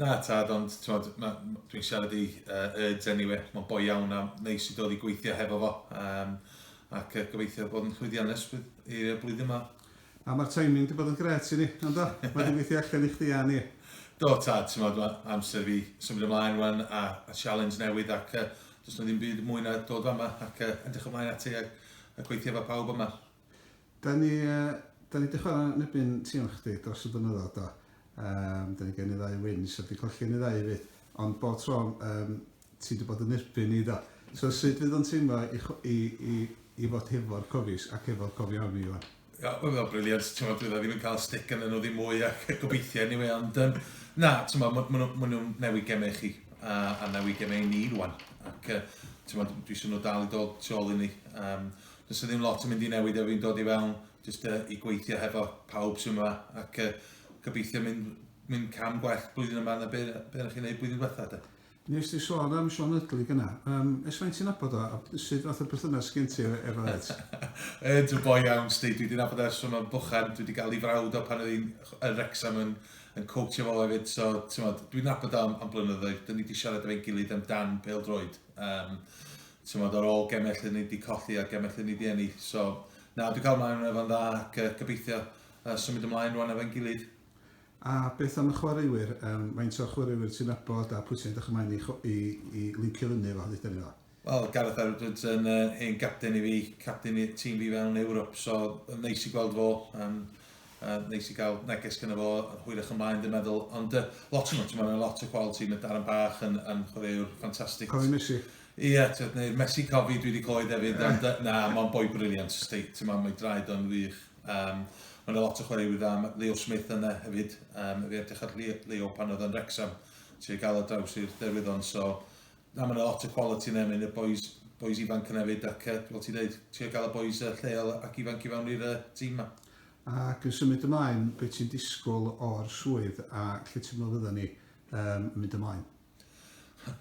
Na tad, ond t'mod, ma- m- dwi'n siarad i yy Urds eniwe, mae'n boi iawn a neis i dod i gweithio hefo fo, yym, ac yy gobeithio bod yn llwyddiannus bydd i y blwyddyn ma. A ma'r timing 'di bod yn grêt i ni, yndo? Mae 'di gweithio allan i chdi a ni. Do tad, t'mod, ma' amser i fi symud ymlaen ŵan a a sialens newydd ac yy does 'na ddim byd mwy na dod fama ac yy edrych ymlaen ati a a gweithio efo pawb yma. Da ni yy da ni 'di chwara yn erbyn tîm chdi dros y blynyddodd do? Yym da ni gen ni ddau wins heb 'di colli yn y ddau efyd ond bob tro yym ti 'di bod yn erbyn ni do? So sud fydd o'n teimlo i chw- i i i fod hefo'r Cofies ac hefo'r Cofioni ŵan? Ia wel mae o'n briliant t'mod fydd o ddim yn ca'l stick arnyn nhw ddim mwy a gobeithio eniwe ond yym na t'mod ma' ma' nhw ma' nhw'n newid geme i chi a a newid geme i ni rŵan ac yy t'mod dwi isio nhw dal i dod tu ôl i ni yym Does 'na ddim lot yn mynd i newid efo fi'n dod i fewn, jyst yy i gweithio hefo pawb sy'n yma, ac yy gobeithio mynd, mynd cam gwell blwyddyn yma na be, be o'ch chi'n neud blwyddyn diwetha de. Nes di sôn am Siôn Ydli gyna, um, es faint ti'n nabod o, a sut fath o perthynas gen ti efo Ed? Ed yn boi iawn, sti, dwi wedi nabod ers rhwng o'n bychan, dwi wedi gael ei frawd o pan oedd hi'n yn Rexham yn, yn coachio fo hefyd, so ti'n modd, dwi'n nabod o am, am blynyddoedd, dyn ni wedi siarad efo'n gilydd amdan pel droed. Um, t'mod ar ôl geme lle ni 'di colli a geme lle ni 'di ennill so na dwi'n cawl mlaen o fo'n dda ac yy gobeithio yy symud ymlaen rwan efo'n gilydd. A beth am y chwaraewyr yym faint o chwaraewyr ti'n nabod a pwy sy'n edrych ymlaen i cho- i i lincio fyny efo deutha ni fo? Wel Gareth Edwards yn yy hen gapten i fi, capten i tîm fi fewn Ewrop so yn neis i gweld fo yym yy neis i ga'l neges gynno fo hwyrach ymlaen dwi'n meddwl ond yy lot o nhw t'mod ma' 'na lot o quality ma' Darren Bach yn yn chwaraewr ffantastig. Cofio Messi? Ia t'od neu Mesi Cofi dwi 'di clywed efyd am dy- na ma'n boi briliant jyst deud t'mo' mae draed o'n wych yym ma' 'na lot o chwaraewyr dda ma' Leo Smith yna hefyd yym fi edrych ar Leo Leo pan oedd o'n Wrecsam trio ga'l o draws i'r derwyddon so na ma' 'na lot o quality yna ma' 'na bois bois ifanc yna efyd ac yy fel ti'n deud trio ga'l y bois yy lleol ac ifanc i fewn i'r yy tîm 'ma. Ac yn symud ymlaen be' ti'n disgwl o'r swydd a lle ti'n meddwl fyddan ni yym yn mynd ymlaen?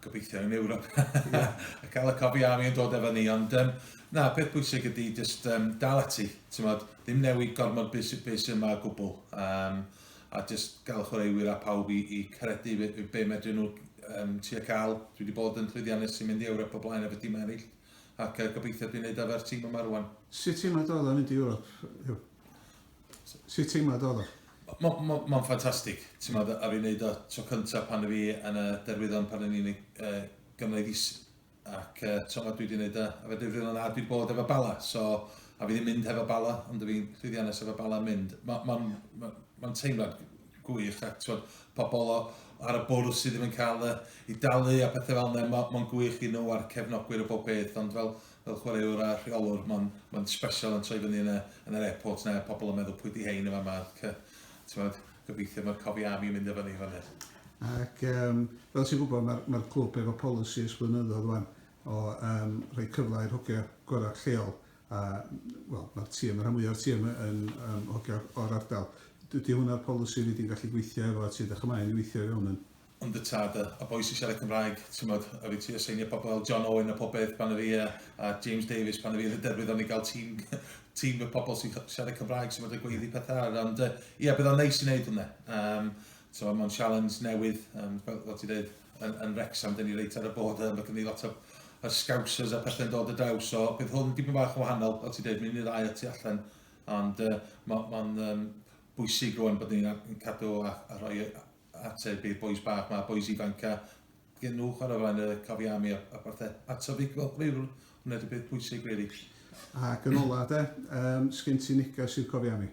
Gobeithio yn Ewrop. yeah. a cael y cofi am i'n dod efo ni. Ond um, na, peth bwysig ydy just um, dal ati. Mod, ddim newid gormod bus, bus yma o gwbl. Um, a just gael chwaraewyr a pawb i, i credu be, be medryn nhw um, ti a cael. Dwi wedi bod yn llwyddiannus sy'n mynd i Ewrop o blaen efo tîm eraill. Ac uh, gobeithio dwi'n neud efo'r tîm yma rwan. Sut ti'n meddwl yn mynd i Ewrop? Sut teimlad oedd o? Mae'n ffantastig, ti'n meddwl, a fi'n neud o tro cyntaf pan fi yn y derwyddon pan o'n i'n Gymraeg is, ac ti'n meddwl, dwi wedi neud o, a fe difrif yna, a dwi wedi bod efo Bala, so, a fi ddim mynd hefo Bala, ond fi'n llwyddiannus efo Bala mynd. Mae'n teimlad gwych, a ti'n meddwl, pobl ar y bwrdd sydd ddim yn cael eu dalu a pethau fel yna, mae'n gwych i nhw a'r cefnogwyr o bob peth, ond fel, fel chwaraewr a rheolwr ma'n ma'n sbesial yn troi fyny yn y yn yr airport 'na pobl yn meddwl pwy 'di hein yn fama ac yy t'mod gobeithio ma'r cofiafi yn mynd efo ni fynny. Ac yym fel ti'n gwybod ma'r ma'r clwb efo polisi ers blynyddodd wan o yym rhoi cyfle i'r hogia gora lleol a wel ma'r tîm y rhan mwya'r tîm yn yym hogia o'r ardal. Dydi hwnna'r polisi ni di'n gallu gweithio efo ti 'dych ch'mau yn weithio i fewn yn? Ond y tad a a boi sy'n siarad Cymraeg, timod, a fi trio seinio pobl fel John Owen a popeth pan o fi a, a James Davies pan o fi yn y derwyddon i gael tîm, tîm y pobl sy'n siarad Cymraeg sy'n fod y gweiddi pethau ar. Ond uh, ia, bydd o'n neis i wneud hwnna. Um, so, mae'n sialens newydd, um, fel, fel ti dweud, yn, yn Rexham, dyn ni reit ar y bod, mae gen i lot o yr scousers a pethau'n dod y daw, so bydd hwn dipyn bach yn wahanol, fel ti dweud, mynd i'r ddau a tu allan, ond uh, mae'n ma um, bwysig rwan bod ni'n cadw a, a rhoi ateb i'r bois bach 'ma, bois ifanc a gen nhw chwarae o flaen y cofia am i a parthe. A tyfu cyflogfriwr, hwnna ydy'r peth pwysig rili. Ac yn ola de, yym sgen ti neges i'r cofia am i?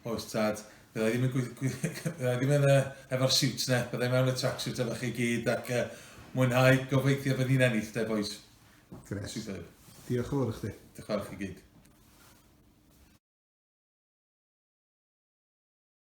Oes tad, fydda i ddim yn gweithio, fydda i ddim yn uh, efo'r siwt ne, bydda i mewn y tracksuit efo chi gyd ac uh, mwynhau gobeithio bod ni'n ennill de bois. Gret. Superb. Diolch yn fawr i chdi. Diolch yn fawr i chi gyd.